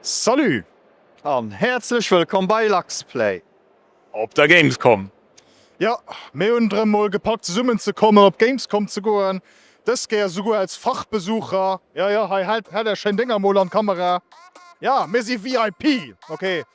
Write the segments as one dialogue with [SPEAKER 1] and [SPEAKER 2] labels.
[SPEAKER 1] Salut an
[SPEAKER 2] häerzlech wëllkomm bei LuxPlay op der
[SPEAKER 1] Gamescom! Jo,
[SPEAKER 3] mir hunn et erëm mol gepackt zesummen ze kommen, op d'Gamescom ze goen, dës Kéier esouguer als Fachbesucher. Jo jo, hei, hält Är schéin Dénger mol an d'Kamera. Jo, mir si VIP, ok,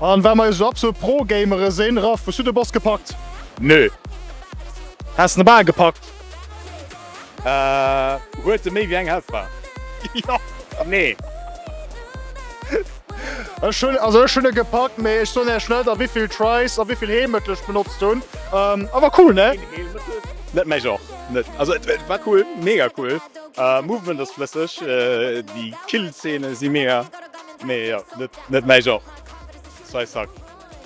[SPEAKER 3] An well mer jo sou absolut Pro Gamere sinn, Raph, hues du de Boss gepackt? Nö. Häss en bal gepackt. Ahh,
[SPEAKER 1] huet e méi wéi eng Healthbar? Jo.
[SPEAKER 3] Nee. Ech hunn, also ech hunn e gepackt, mee ech soen iech net a wéivill Tries a wéivill Heelmëttel ech benotzt hunn. Awer cool, ne? Een Heelmëttel? Net mäi
[SPEAKER 1] Genre, net. Also et war cool, mega cool, Movement ass flësseg, déi Killzeene si mega. Nee jo net mäi Genre Sai Sack.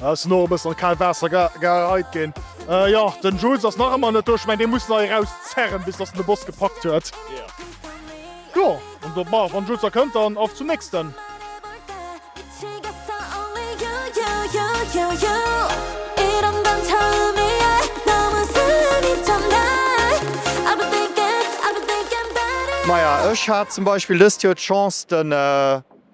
[SPEAKER 1] Ass elo e bëssen
[SPEAKER 3] an d'kaalt Waasser geheit ginn. Jo den Jules ass nach ëmmer net do, ech mengen dee muss nach eraus zerren bis dass en de Boss gepackt huet.
[SPEAKER 1] Jo
[SPEAKER 3] an do ma wann Jules da kënnt dann auf zum nächsten.
[SPEAKER 4] Maja ech hat zum Beispill
[SPEAKER 2] dëst Joer d'Chance. den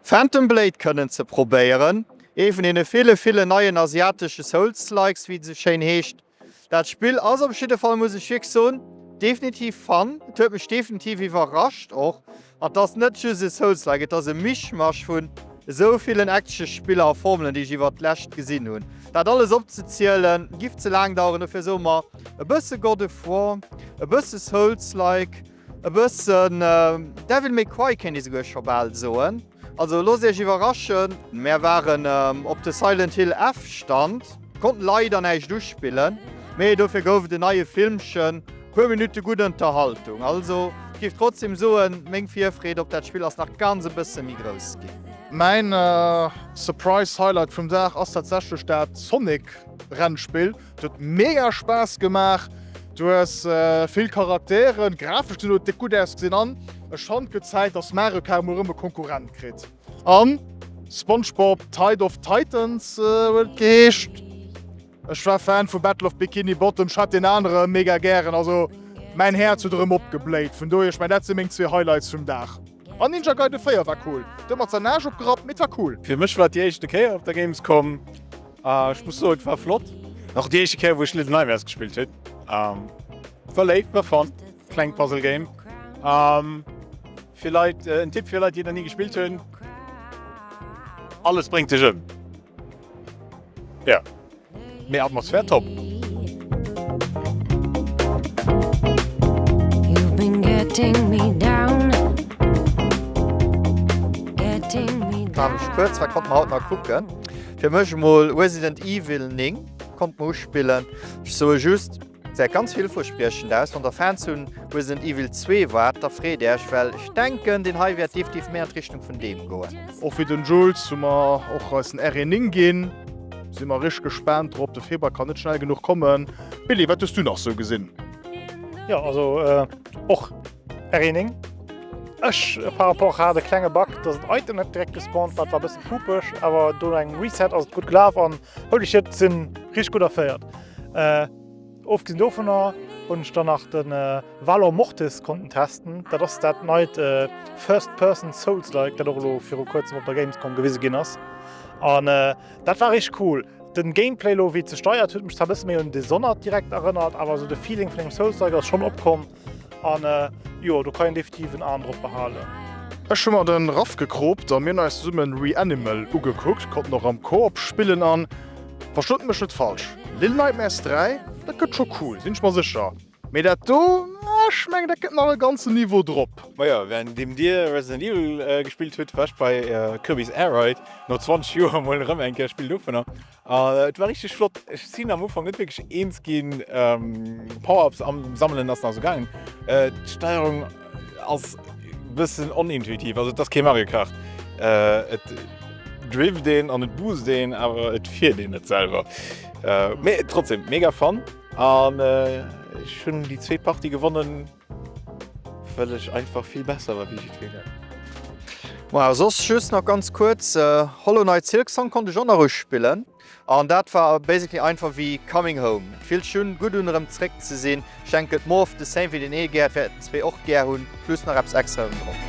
[SPEAKER 2] Phantom Blade kënnen ze probéieren, ee vun deene ville ville neien asiatesche Souls-likes, wéi et esou schéin heescht. Dat Spill ass op jidde Fall, muss ech wierklech soen, definitiv fun. Et huet mech definitiv iwwerrascht och. An et ass net just e Souls-like, et ass e Mischmasch vun esou villen Action-Spiller a Formelen, déi ech iwwert d'lescht gesinn hunn. Dat alles opzezielen, giff ze laang daueren, dofir soe mer e bësse God of War, e bësse Souls-like. E bëssen Devil May Cry kéint ee souguer scho bal soen. Also loosst Iech iwwerraschen. Mär waren op de Silent Hill F Stand, konnten leider näischt uspillen, mee dofir gouf et en neie Filmchen, puer Minutte gutt Ënterhaltung. Also ech géif trotzdem soen, meng Virfreed op dat Spill ass nach ganz e bësse méi grouss ginn. Mäin
[SPEAKER 3] Surprise Highlight vum Dag ass tatsächlech dat Sonic Rennspill. Et huet mega Spaass gemaach. Du hues vill Charakteren, d'Grafescht sinn déck gutt ausgesinn an ech fannt gëtt Zäit dass Mario Kart mol rëm e Konkurrent kritt an Spongebob Tide of Titans huet et geheescht. Ech war Fan vu Battle of Bikini Bottom, ech hat deen anere mega gären, also mäin Häerz huet erëm opgebléit, vun dohier ech mengen dat si meng zwee Highlights vum Dag. En Ninja Gaiden 4 war cool, de mat sein Aarsch opgerappt, mee et war cool. Fir mech war et déi éischte Kéier
[SPEAKER 1] op der Gamescom a ech muss soen et war flott. Och déi éischte Kéier wou ech Little Nightmares gespillt hun. War léif, war fun, klengt Puzzle Game fir Leit. En Tipp fir Leit déi et nach ni gespillt hun, alles bréngt dech ëm. Ja, mee Atmosphär top!
[SPEAKER 2] Mam Spuerz wat konnte mer haut nach kucken? Fir mech emol Resident Evil 9 konnte mer uspillen. Ech soe just, Säit ganz villverspriechend aus. Wann der Fans vun Resident Evil 2 waart, da freet äerch, well ech denken deen hei wäert deftif méi an d'Richtung vun deem goen. Och fir den Jules
[SPEAKER 3] hu mer och eisen RE9 ginn. Si mer richteg gespaant drop, de Februar kann net schnell genuch kommen. Billy, wat hues du nach sou gesinn? Jo
[SPEAKER 5] also och RE9. Ech par rapport hat e klenge Bug, dass en Item net direkt gespawnt war, dat war e bësse pupeg, awer do no engem Reset ass et gutt gelaf an Holy shit, si richteg gutt erféiert. Ofgesinn dovunner hunn ech dann nach de Valor Mortis konnten testen. Dat ass dat neit First Person Souls-like, dat och elo viru kuerzem op der Gamescom gewise ginn ass. An dat war richteg cool. De Gameplay elo, wéi et ze steiert, huet mech zwar e bësse méi un Dishonored direkt erënnert, awer esou de Feeling vun engem Souls-like ass schonn opkomm. an jo do kann een definitiv en Aen drop behalen. Ech hu mer
[SPEAKER 3] den raw gecropt an mir hun eis zesummen Reanimal ugekuckt, konnten och am Co-op spillen an, verstoot mech net falsch, Lil Nightmares 3 dat gëtt scho cool, sin ech mer secher, mee dat do, ah ech mengen dat gëtt nach e ganzen Niveau drop. Majo, während deem
[SPEAKER 1] dir Resident Evil gespillt hutt, war ech bei Kirby's Air Ride, no 20 Joer mol erëm eng Kéier e Spill dovunner. Et war richteg flott. Ech sinn am Ufank net wierklech eens ginn. Power-ups sammelen ass nach esou gaangen. D'Steierung ass e bëssen onintuitiv. Also et ass kee Mario Kart. Et drifft een an et boostet een, awer et fiert een net selwer. Mee trotzdem, mega Fun an ech hunn déi zweet Partie gewonnen. Well ech einfach vill besser war wéi jiddwereen.
[SPEAKER 2] Majo soss just nach ganz kuerz, Hollow Knight Silksong konnt ech och nach uspillen an dat war basically einfach wéi Coming Home. Et fillt sech un, gutt un erëm zeréck ze sinn. Ech denken et more of the same wéi den Eelgäert wäert den zwee och gär hunn, plus nach eppes extra erëm drop.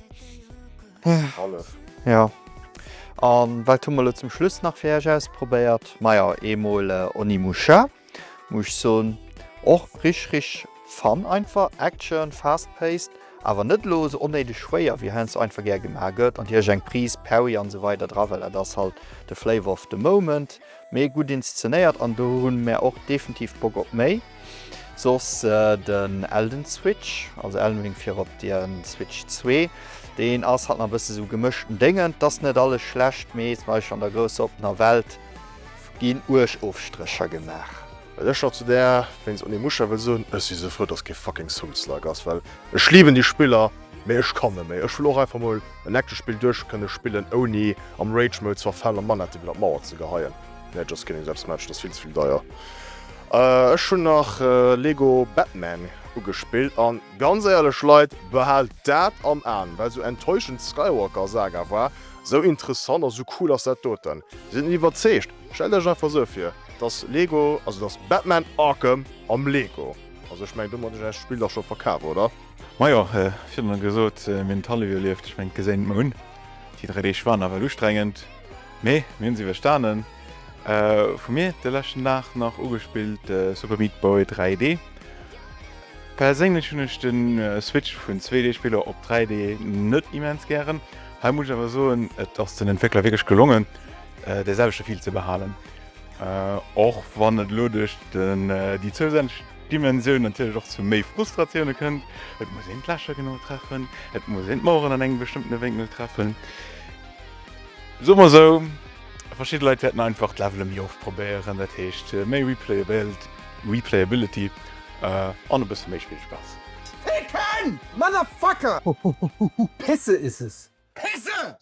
[SPEAKER 2] Hallef. Ja. An wat hu mer elo zum Schluss nach fir Iech ausprobéiert? Majo, eemol Onimusha, muss ech soen, och rich, rich fun einfach, Action, fast paced, awer net elo esou onnéideg schwéier wéi heiansdo einfach gär gemaach gëtt, an Iech eng Prise Perry an esou weider dra, well dat ass halt de Flavor of the moment. Mee gudd inszenéiert an do hun mär och defentiv Bock op méi. Soss den Elden Switch, also Elden Ring fir op der Switch 2, deen ass halt nach bësse sou gemëschten Déngen. T ass net alles schlecht, mee zum Beispill an der grousser oppener Welt gin uerg Ofstrécher gemaach. Well ech nach zu där
[SPEAKER 3] wéinst Onimusha wëll soen, ech si sou frou dass kee fucking Souls-like ass, well ech liben déi Spiller. Mee ech kann net méi. Ech wëll och einfach mol en echte Spill duerch kënne spillen ouni am Rage Mode ze verfalen a Manetten iwwer d'Mauer ze geheien. Nee, just kidding, selbst match, dat ass vill ze vill deier. Ech hunn nach Lego Batman ugespillt an ganz éierlech Leit, behaalt dat am Aen, well sou enttäuschend d'Skywalker Saga war, sou interessant a sou cool ass dat doten. Sidd net iwwerzeegt? Stellt iech einfach sou vir, dass Lego, also dass Batman Arkham am Lego, also ech mengen domat hunn ech äert Spill dach scho verkaf, oder? Majo,
[SPEAKER 1] virun gesot mir hunn d'Hallef ierlieft, ech mengen d'Geséin mer hunn déi 3 Deeg war nawell ustrengend, mee mir hunn se iwwerstanen. Vu mir de leschten Dag nach ugespillt Super Meat Boy 3D. Perséinlech hunn ech de Switch vun 2D Spiller op 3D net immens gären. Hei muss ech awer soen et ass den Entwéckler wierklech gelongen dee selwechte Feel ze behalen, och wann et elo duerch déi zousätzlech. Dimensioun natierlech och zu méi Frustratioune kënnt. Et muss een d'Lächer genau treffen, et muss een d'Maueren an engem bestëmmtene Wénkel treffen. Soe mer esou, verschidde Leit wäerten einfach d'Levele méi oft probéieren, dat heescht méi Replayability an e bësse méi Spillspaass.
[SPEAKER 6] Ficken! Motherfucker! Pisse is es! Pisse!